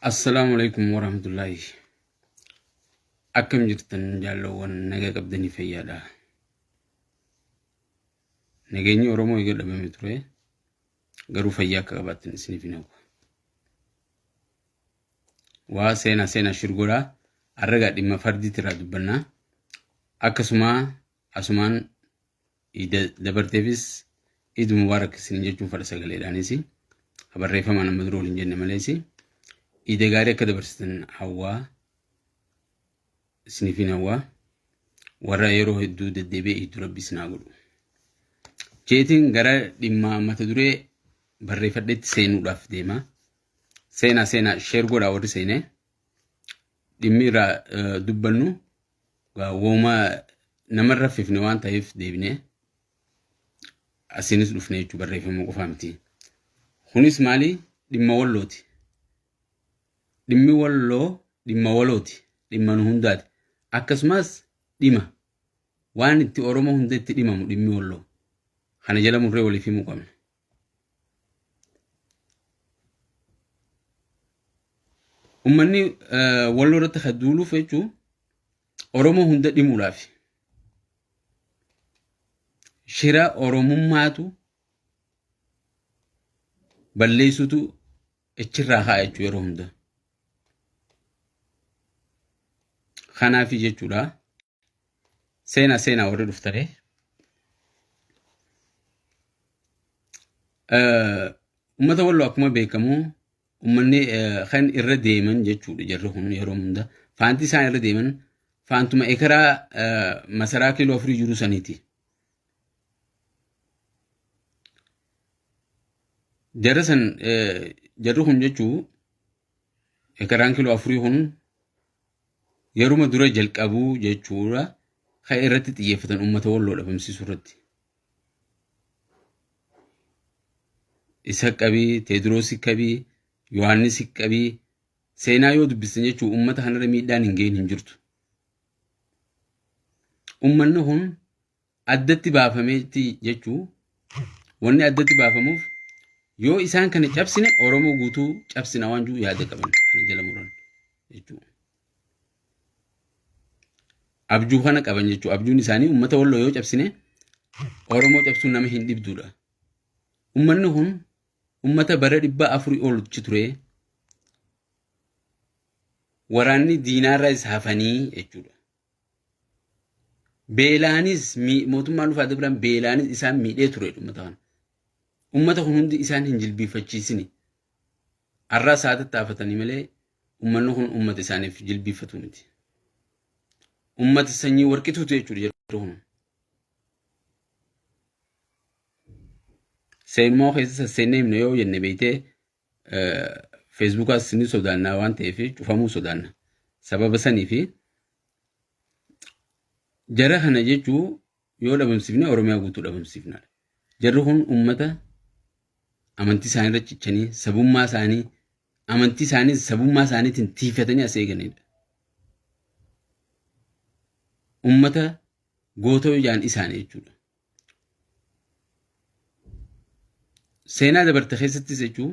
Assalaamu alaikum warahmatullaahi akkam jirtan jaalloowwan nagaa qabdanii fayyaadha nageenyi oromoo eega dhabame ture garuu fayyaa akka qabaattan isiniif hin hawwa waa seenaa seenaa shirgoraa arragaa dhimma fardiitti irraa dubbannaa akkasuma Asumaan Iid dabarteefis Iid Mubaarak isiniin jechuun fadha sagaleedhaanis ka barreeffamaan amma dura waliin jenne malees Iida gaarii akka dabarsitan hawwaa isiniifin hawwaa warra yeroo hedduu deddeebi'ee Iiddu Rabbi isin haa godhu. Jeetiin gara dhimmaa mata duree barreeffadheetti seenuudhaaf deema. Seenaa seenaa sheer godhaa warri seenee dhimmi irraa eh, dubbannu eh, wooma nama hin raffifne waan ta'eef deebinee asiinis dhufne jechuu barreeffama qofaa miti. Kunis maali? Dhimma wallooti. Dhimmi walloo dhimma walooti. Dhimma nu hundaati. Akkasumas dhima waan itti Oromoo hunda itti dhimamu dhimmi walloo. Kana jala murree waliif himuu qabna. Ummanni eh, walloo irratti kan duuluuf jechuun Oromoo hunda dhimuudhaaf shira Oromummaatu balleessutu achirraa kaa'a jechuu yeroo hunda. Kanaaf jechuudha. Seena seena warri dhuftare. Uummata walloo akkuma beekamu uummanni kan irra deeman jechuudha jarri kun yeroo hunda. Faanti isaan irra deeman faantuma ekeraa masaraa kiiloo afurii jiru saniiti. Jarri san jarri kun jechuu ekeraan kiiloo afurii kun yeruma dura jalqabuu jechuudha kan irratti xiyyeeffatan uummata walloo dhabamsiisuu irratti. Isa qabii, Teediroosii qabii, Yohaannisii qabii, seenaa yoo dubbistan jechuun uummata kanarra miidhaan hin geenye hin jirtu. Uummanni kun addatti baafametti jechuu wanni addatti baafamuuf yoo isaan kana cabsine Oromoo guutuu cabsina waan jiru yaada qaban kana jala muran jechuudha. Abjuu kana qaban jechuudha. Abjuun isaanii uummata walloo yoo cabsine Oromoo cabsuun nama hin dhibduudha. Uummanni kun uummata bara dhibba afurii olitti ture waraanni diinaarra isa hafanii jechuudha. Beelaanis mii- mootummaan Nufaa Dabiraan beelaanis isaan miidhee ture uummata kana. Uummata kun hundi isaan hin jilbiifachiisini. Har'aa isaa tattaafatanii malee uummanni kun uummata isaaniif jilbiifatu miti. Uummata sanyii warqituutu jechuudha jirtu kun. Seenmoo keessa sasseennee himna yoo jenne beektee Feesbuukaas ni sodaannaa waan ta'eef cufamuu sodaanna. Sababa saniif jara kana jechuu yoo dhabamsiifne Oromiyaa guutuu dhabamsiifna. Jarri kun uummata amantii isaanii irra cichanii sabummaa isaanii amantii isaanii sabummaa isaaniitiin tiifatanii as eeganidha. Uummata goota yoo jaan isaanii jechuudha. Seenaa dabarte keessattis jechuun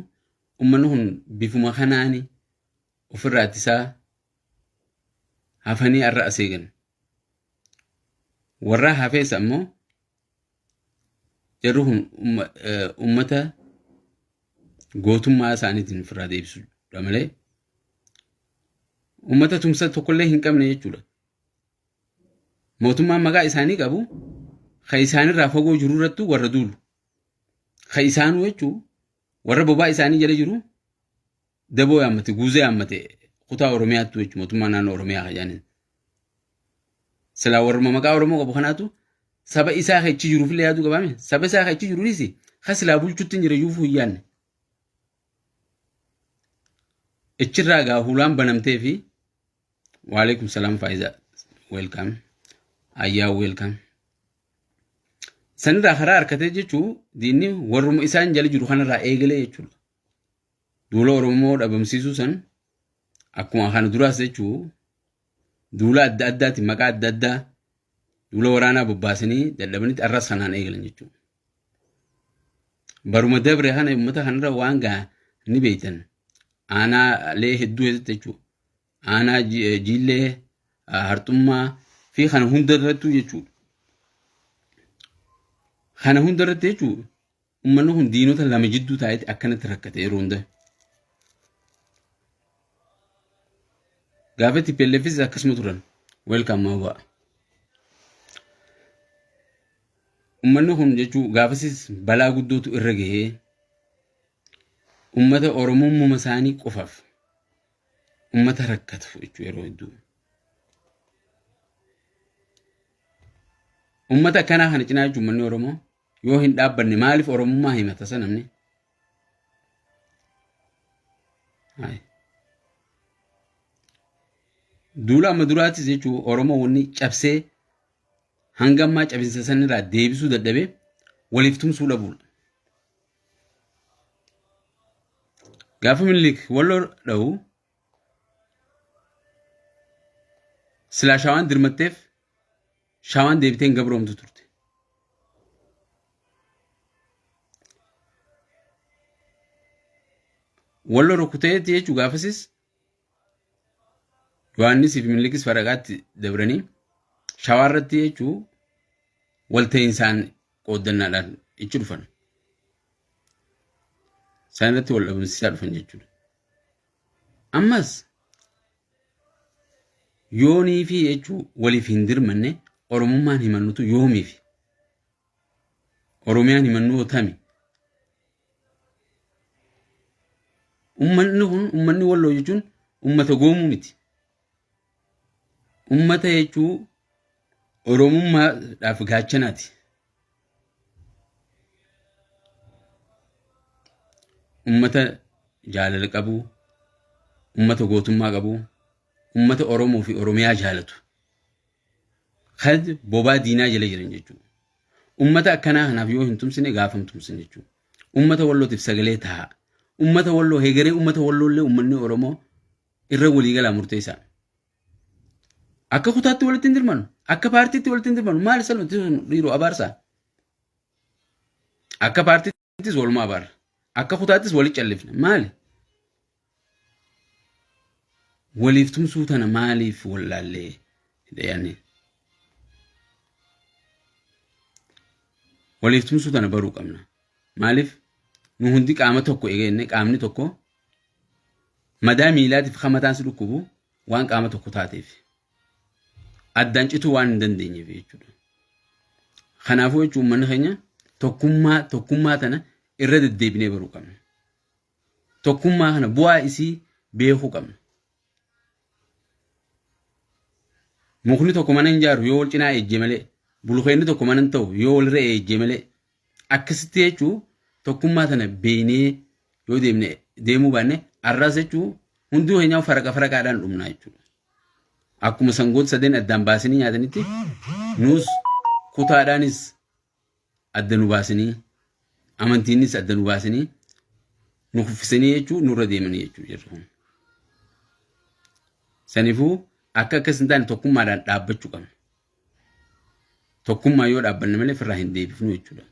uummanni kun bifuma kanaan ofirraa ittisaa hafanii har'a as eegan. Warra hafees ammoo jarri kun uummata gootummaa isaaniitiin ofirraa deebisuudha malee uummata tumsa tokkollee hin qabne jechuudha. Mootummaan maqaa isaanii qabu kan isaanirraa fagoo jiru irrattuu warra duulu. Kan isaanuu jechuun warra bobaa isaanii jala jiru daboo yaammate, guuzee yaammate kutaa Oromiyaattuu jechuun mootummaa naannoo Oromiyaa kan jedhaniin. Silaa warruma maqaa Oromoo qabu kanaatu saba isaa kan achi jiruuf illee yaaduu qabaame. Saba isaa kan achi jiru dhiisi kan silaa bulchutti hin jira iyyuu hin yaadne. Achirraa gaa hulaan banamtee fi Waalaikum salam Faiza. Welcome. Ayyaa welcome. Sanirraa karaa harkatee jechuun diinni warruma isaan jala jiru kanarraa eegalee jechuudha. Duula Oromoo dhabamsiisuu san akkuma kana duraas jechuun duula adda addaati maqaa adda addaa duula waraanaa bobbaasanii dadhabanitti arras kanaan eegalan jechuudha. Baruma dabre kana uummata kanarra waan gahaa ni beektan. Aanaalee hedduu keessatti jechuudha. aanaa jiillee harxummaa fi kana hunda irrattuu jechuudha. Kana hunda irratti jechuudha uummanni kun diinota lama jidduu taa'etti akkanatti rakkate yeroo hunda. Gaafa TPLFis akkasuma turan. Welcome Mawwa. Uummanni kun jechuun gaafasis balaa guddootu irra gahee uummata Oromoo uumama isaanii qofaaf ummata rakkatu jechuudha yeroo hedduu. Ummata akkanaa kana cinaa jechuun uummanni Oromoo yoo hin dhaabbanne maaliif Oromummaa himata sana namni? Duula amma duraattis jechuun Oromoo wanni cabsee hanga ammaa cabinsa sanirraa deebisuu dadhabee waliif tumsuu dhabuudha. Gaafa Minilik walloo dha'u silaa shawaan dirmatteef shawaan deebitee hin gabroomtu turte. Walloo rukuteetti jechuun gaafasis Yohaannisii fi Minillikis faragaatti dabranii shawaa irratti jechuu walta'insaan qooddannaadhaan ichi dhufan. Isaan irratti wal dhabamsiisaa dhufan jechuudha. Ammas yoonii fi jechuu waliif hin dirmanne Oromummaan himannutu yoomiifi. Oromiyaan himannoo tami? Ummanni kun ummanni walloo jechuun ummata goomuu miti. Ummata jechuu Oromummaadhaaf gaachanaati. Ummata jaalala qabu, ummata gootummaa qabu, ummata Oromoo fi Oromiyaa jaalatu. Kad bobaa diinaa jala jiran jechuudha. Ummata akkanaa kanaaf yoo hin tumsine gaafa hin tumsin jechuudha. Ummata wallootiif sagalee tahaa. Ummata walloo heegaree ummata walloollee ummanni Oromoo irra waliigalaa murteessaa. Akka kutaatti walitti hin dirmanu. Akka paartiitti walitti hin dirmanu. Maal salphatu dhiiroo abaarsaa? Akka paartiitti. Ittis walumaa baarra. Akka kutaattis wali callifna. Maali? Waliif tumsuu tana maaliif wallaallee? Dayaanni. Waliif tumsuu tana baruu qabna. Maaliif? Nu hundi qaama tokko eegeenne qaamni tokko madaa miilaatiif hamataan si dhukkubu waan qaama tokko taateef addaan cituu waan hin dandeenyeef jechuudha. Kanaafuu jechuun uummanni keenya tokkummaa tokkummaa tana irra deddeebinee baruu qabna. Tokkummaa kana bu'aa isii beekuu qabna. Mukni tokko mana hin jaaru yoo wal cinaa eejjee malee bulukeenni tokko mana hin ta'u yoo walirra eejjee malee Akkasitti jechuun tokkummaa tana beeynee yoo deemne deemuu baanne arraas jechuun hunduu keenyaa faraqa faraqaadhaan dhumnaa jechuudha. Akkuma sangoota sadeen addaan baasanii nyaatanitti nuus kutaadhaanis adda nu baasanii amantiinis adda nu baasanii nu kuffisanii jechuun nurra deemanii jechuudha jirra kun. Sanifuu akka akkas hin taane tokkummaadhaan dhaabbachuu qabna. Tokkummaa yoo dhaabbanne malee firraa hin deebifnu jechuudha.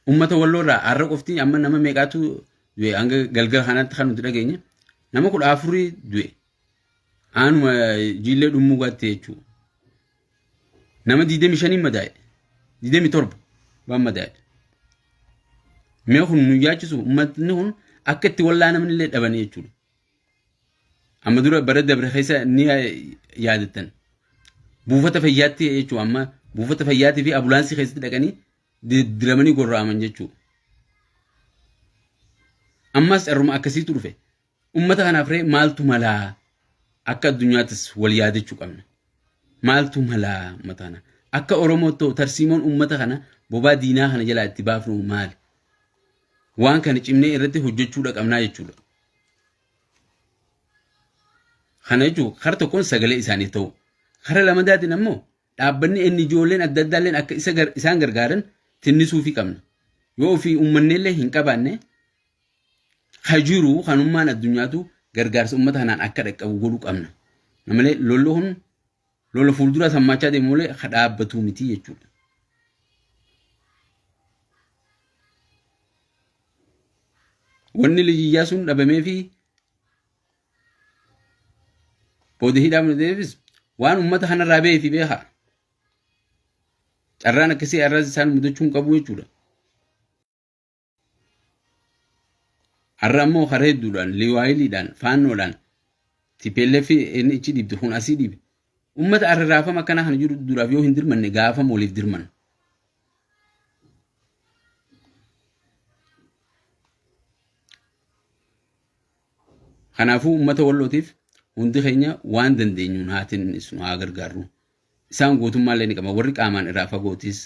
Uummata walloo irraa har'a qofti amma nama meeqaatu du'e hanga galgala kanaatti kan nuti dhageenye nama kudha afurii du'e aanuma jiillee dhummuu gaatte jechuudha. Nama digdami shaniin madaa'e digdami torba waan madaa'e. Mee kun nu yaachisu uummatni kun akka itti wallaa namni illee dhabanii jechuudha. Amma dura bara dabre keessa ni yaadattan. Buufata fayyaatti jechuun amma buufata fayyaatii fi abulaansii keessatti dhaqanii diramanii gorra'aman jechuudha. Ammas carruma akkasiitu dhufe. Uummata kanaaf ree maaltu malaa akka addunyaattis wal yaadachuu qabna. Maaltu malaa uummata kana? Akka Oromootti tarsiimoon uummata kana bobaa diinaa kana jalaa itti baafnu maali? Waan kana cimnee irratti hojjechuudha qabnaa jechuudha. Kana jechuun kara tokkoon sagalee isaanii ta'u. Kara lamadaatiin ammoo dhaabbanni inni ijoolleen adda addaalleen akka isa gar- isaan gargaaran tinnisuufii qabna. Yoo ofii uummanneellee hin qabaanne ka jiru kanummaan addunyaatu gargaarsa uummata kanaan akka dhaqqabu godhuu qabna. Malee lolli kun lola fuulduraa sammaachaa deemu malee ka dhaabbatuu miti jechuudha. Wanni lijiyyaa sun dhabamee fi booda hidhaa mul'ateefis waan uummata kanarraa ba'ee fi beekaa. Carraan akkasii arraas isaan mudachuu hin qabu jechuudha. Har'a ammoo karaa hedduudhaan, liwaayiliidhaan, faannoodhaan, TPLF inni ichi dhiibde kun asii dhiibe. Uummata arraafama akkanaa kana jiru duraaf yoo hin dirmanne gaafam waliif dirmanna. Kanaafuu uummata wallootiif hundi keenya waan dandeenyuun haa tinnisnu haa gargaarru. Isaan gootummaallee ni qaban warri qaamaan irraa fagootis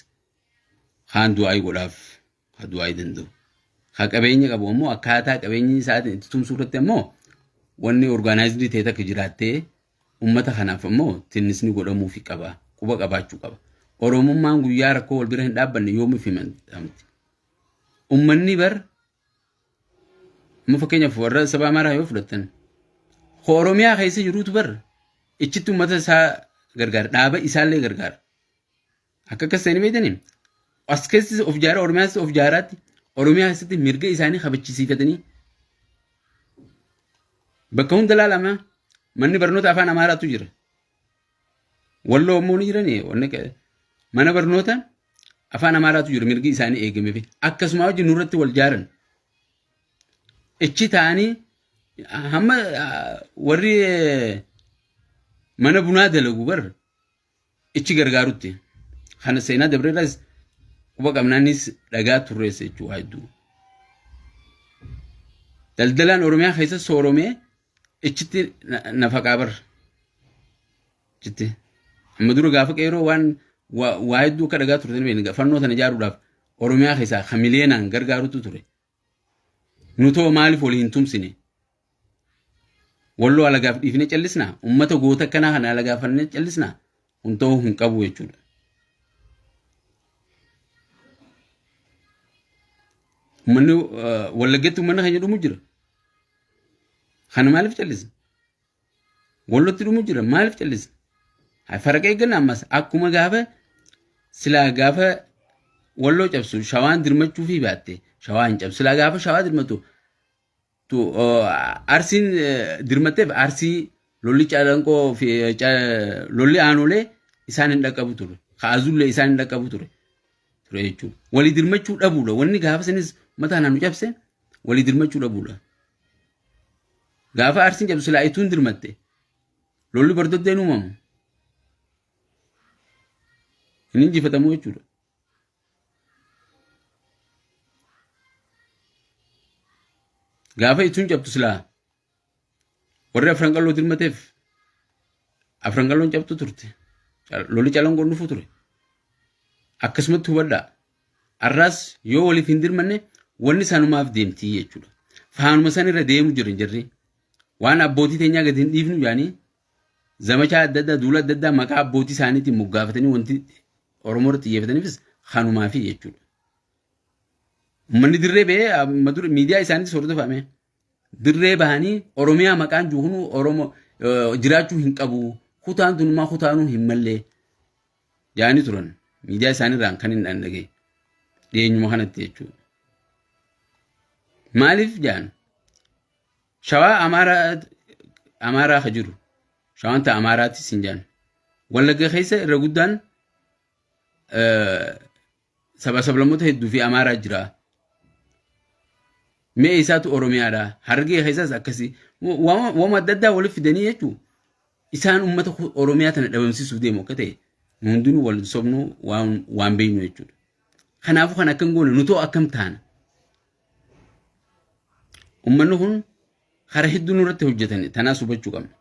kaan du'aayii godhaaf ka du'aa'ii danda'u. Ka qabeenya qabu ammoo akkaataa qabeenyi isaatiin itti tumsuu irratti ammoo wanni orgaanaayizidii ta'e takka jiraattee uummata kanaaf ammoo tinnisni godhamuufi qaba. Quba qabaachuu qaba. Oromummaan guyyaa rakkoo wal bira hin dhaabbanne yoomiif himatamti. Uummanni bar amma fakkeenyaaf warra saba Amaaraa yoo fudhattan ka Oromiyaa keessa jiruutu bar ichitti uummata isaa gargaara dhaaba isaallee gargaara. Akka akkas ta'anii beektanii as keessas of jaaraa Oromiyaas of jaaraatti Oromiyaa keessatti mirga isaanii kabachisiifatanii bakka hunda laalama manni barnoota afaan Amaaraatu jira. Walloo immoo ni jiranii wanni akka- mana barnoota afaan Amaaraatu jira mirgi isaanii eegamee fi akkasuma hojii nurratti wal jaaran. Ichi ta'anii hamma ah, warri eh, mana bunaa dalagu bar ichi gargaarutti kana seenaa dabreerras quba qabnaanis dhagaa turreessa jechuudha waa hedduu. Daldalaan Oromiyaa keessa sooromee ichitti nafaqaa bar. Ichitti. Amma dura gaafa qeeroo waan waa hedduu akka dhagaa turtan beekni fannoo sana ijaaruudhaaf Oromiyaa keessaa kan miliyeenaan gargaarutu ture. Nutoo maaliif wal hin tumsine? Walloo alagaaf dhiifne callisna? Ummata goota akkanaa kana alagaafanne callisna? Kun ta'uu hin qabu jechuudha. Uummanni Wallaggatti uummanni keenya dhumu jira. Kana maaliif callisna? Wallootti dhumu jira maaliif callisna? Hay faraqa eegganna ammas akkuma gaafa silaa gaafa walloo cabsu shawaan dirmachuu fi baatte shawaa hin cabsu silaa gaafa shawaa dirmatu tu arsiin dirmatteef arsii lolli calanqoo fi lolli aanolee isaan hin dhaqqabu ture kaazullee isaan hin dhaqqabu ture ture jechuudha walii dirmachuu dhabuudha wanni gaafa sanis mataa naannu cabse walii dirmachuu dhabuudha. Gaafa Arsiin cabdu silaa ituun dirmatte lolli bardoddeen uumamu hin injifatamu jechuudha. Gaafa ituun cabdu silaa warri afran qalloo dirmateef afran qalloon cabdu turte. Cal- Lolli calangoon dhufu ture. Akkasumatti hubadhaa. Arraas yoo waliif hin dirmanne wanni sanumaaf deemtii jechuudha. Faanuma san irra deemu jiran jirri. Waan abbootii teenyaa gadi hin dhiifnu jedhanii zamachaa adda addaa duula adda addaa maqaa abbootii isaaniitiin moggaafatanii wanti Oromoo irratti xiyyeeffataniifis kanumaafi jechuudha. Uummanni dirree ba'ee amma dura miidiyaa isaaniitis hordofame. Dirree bahanii Oromiyaa maqaan jiru kun Oromoo eh, jiraachuu hin qabu. Kutaan tunumaa kutaanuu hin mallee. Jaanii turan. Miidiyaa isaaniirraan kan hin dhaga'e. Dhiyeenyuma kanatti jechuudha. Maaliif jaan? Shawaa Amaaraa ka jiru. Shawaan ta'a Amaaraatti siin jaan. Wallagga keessa irra guddaan Saba sablammoota hedduu fi Amaaraa jira. Mee eessaatu Oromiyaadha? Harargee keessaas akkasi. Waan waan adda addaa walitti fidanii jechuun isaan uummata ku- Oromiyaa tana dhabamsiisuuf deemu akka ta'e nu hundinuu wal sobnuu waan waan beeknu jechuudha. Kanaafuu kan akkam goone nutoo akkam taana? Uummanni kun karaa hedduu nurratti hojjetan tanaas hubachuu qabna.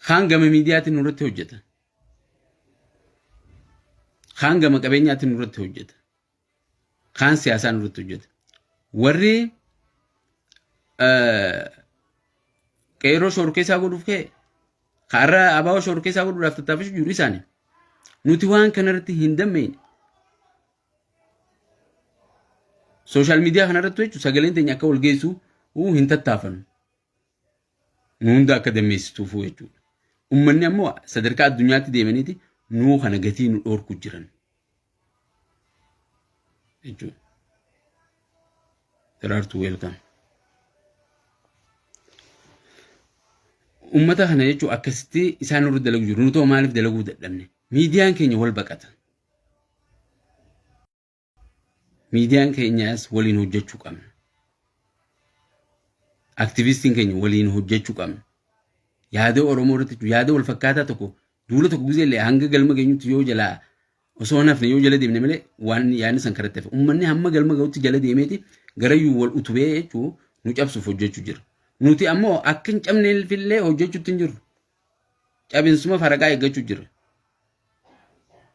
Kaan gama miidiyaatiin nurratti hojjeta. Kaan gama qabeenyaatiin nurratti hojjeta. Kaan siyaasaan nurratti hojjeta. Warri qeerroo shorkeessaa godhuuf ka'e har'a abaaboo shorkeessaa godhuudhaaf tattaafachuu jiru isaanii. Nuti waan kanarratti hin dammeenye. Sooshaal miidiyaa kanarratti jechuun sagaleen teenya akka wal geessu hin tattaafannu. nu hunda akka dammeessituufuu jechuudha. Ummanni ammoo sadarkaa addunyaatti deemaniiti nuu kana gatii nu dhoorku jiran jechuudha. Daraartuu weelkaam. Ummata kana jechuun akkasitti isaan irra dalagu jiru. Nutoo maaliif dalaguu dadhabne? Miidiyaan keenya wal baqata. Miidiyaan keenyaas waliin hojjechuu qabna. Aktivistiin keenya waliin hojjechuu qabna. Yaada Oromoo irratti jiru, yaada wal fakkaataa tokko duula tokko gisee illee hanga galma geenyutti yoo jalaa osoo hin hafne yoo jala deemne malee waan yaadni san karatti hafe. Uummanni hamma galma ga'utti jala deemeeti garayyuu wal utubee jechuu nu cabsuuf hojjechuu jira. Nuti ammoo akka hin cabneef illee hojjechuutti hin jirru. Cabinsuma faraqaa eeggachuu jira.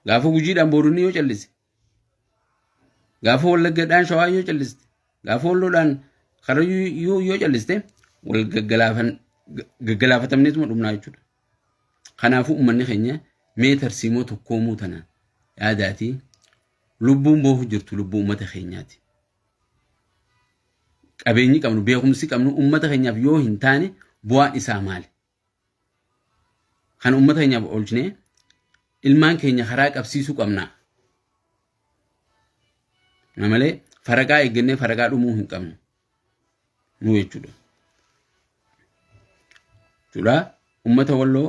Gaafa gujiidhaan booronni yoo callise Gaafa wallaggadhaan shawaa yoo calliste, gaafa walloodhaan karayyuu yoo calliste wal gaggalaafatamneetuma dhumnaa jechuudha. Kanaafuu uummanni keenya mee tarsiimoo tokkoomuu tana yaadaatii lubbuun boohu jirtu lubbuu uummata keenyaati. Qabeenyi qabnu beekumsi qabnu uummata keenyaaf yoo hin taane bu'aan isaa maali? Kan uummata keenyaaf oolchinee ilmaan keenya karaa qabsiisuu qabna. Na malee faragaa eeggannee faragaa dhumuu hin qabnu. Nu jechuudha. Jechuudha uummata walloo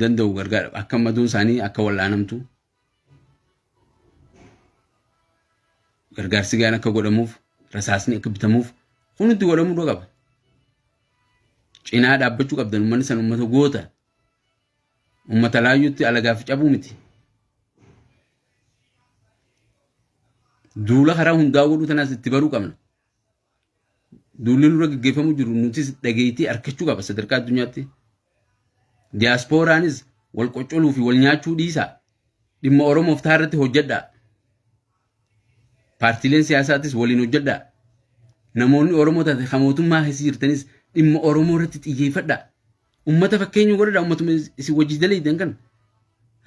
danda'u gargaara akka maduun isaanii akka wal'aanamtu Gargaarsi gahaan akka godhamuuf, rasaasni akka bitamuuf hundi godhamuu dura qaba. Cinaa dhaabbachuu qabdan uummanni san uummata goota. Uummata laayyuutti alagaaf cabuu miti. Duula karaa hundaa godhuu tanaas itti baruu qabna. Duulli nurra gaggeeffamu jiru nutis dhageettii arkachuu qaba sadarkaa addunyaatti. Diyaaspooraanis wal qoccoluu fi wal nyaachuu dhiisaa dhimma Oromoof ta'a irratti hojjedhaa. Paartiileen siyaasaatis waliin hojjedhaa. Namoonni Oromoo taate kan mootummaa keessa jirtanis dhimma Oromoo irratti xiyyeeffadhaa. Uummata fakkeenyuu godhadhaa uummatuma isin wajjin daleeydan kana.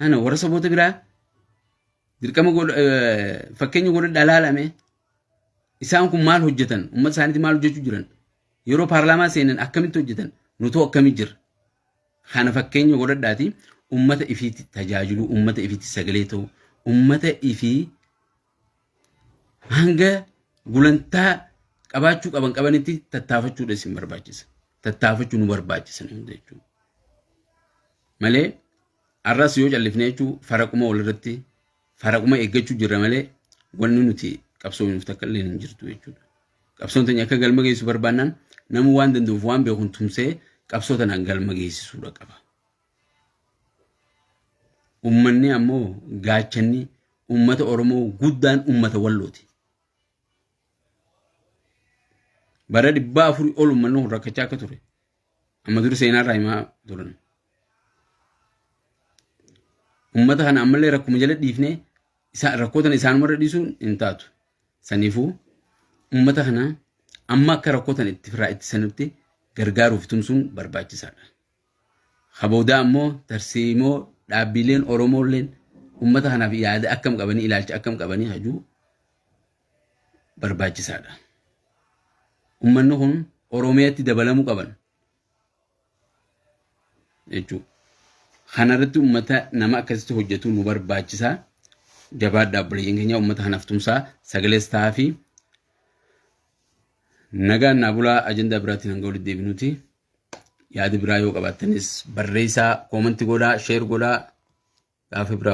Ana warra saboota biraa dirqama fakkeenyuu godhadhaa laalame. Isaan kun maal hojjetan? Uummata isaaniitti maal hojjechuu jiran? Yeroo paarlaamaa seenan akkamitti hojjetan? Nutoo akkamii jirra? Kana fakkeenya godhadhaati uummata ifiitti tajaajiluu, uummata ifiitti sagalee ta'uu, uummata ifii hanga gulantaa qabaachuu qaban qabanitti tattaafachuudha isin barbaachisa. Tattaafachuu nu barbaachisa hunda jechuudha. Malee arras yoo callifnee jechuun faraquma walirratti faraquma eeggachuu jirra malee wanni nuti qabsoofnuuf takka illee hin jirtu jechuudha. Qabsoon tanya akka galma geessu barbaannaan namuu waan danda'uuf waan beekuun tumsee qabsoo tanaan galma geessisuudha qaba. Uummanni ammoo gaachanni uummata Oromoo guddaan uummata wallooti. Bara dhibbaa afurii ol uummanni kun rakkachaa akka ture Amma dur seenaa irraa himaa turan. Uummata kana ammallee rakkuma jala dhiifnee rakkoo tana isaanumarra dhiisuun hin taatu. Saniifuu uummata kana amma akka rakkoo tana itti firaa ittisanutti gargaaruuf tumsuun barbaachisaadha. Haboodaa ammoo tarsiimoo dhaabbiileen Oromoolleen uummata kanaaf yaada akkam qabanii ilaalcha akkam qabanii hajuu barbaachisaadha. Uummanni kun Oromiyaatti dabalamuu qaban jechuudha. Kanarratti uummata nama akkasitti hojjetu nu barbaachisa. Jabaadha obboleeyyan keenya uummata kanaaf tumsaa sagalees ta'aa fi nagaan naa bulaa ajandaa biraatiin hanga walitti deebinuti. Yaada biraa yoo qabaattanis barreessaa koomanti godhaa sheer godhaa gaafa biraa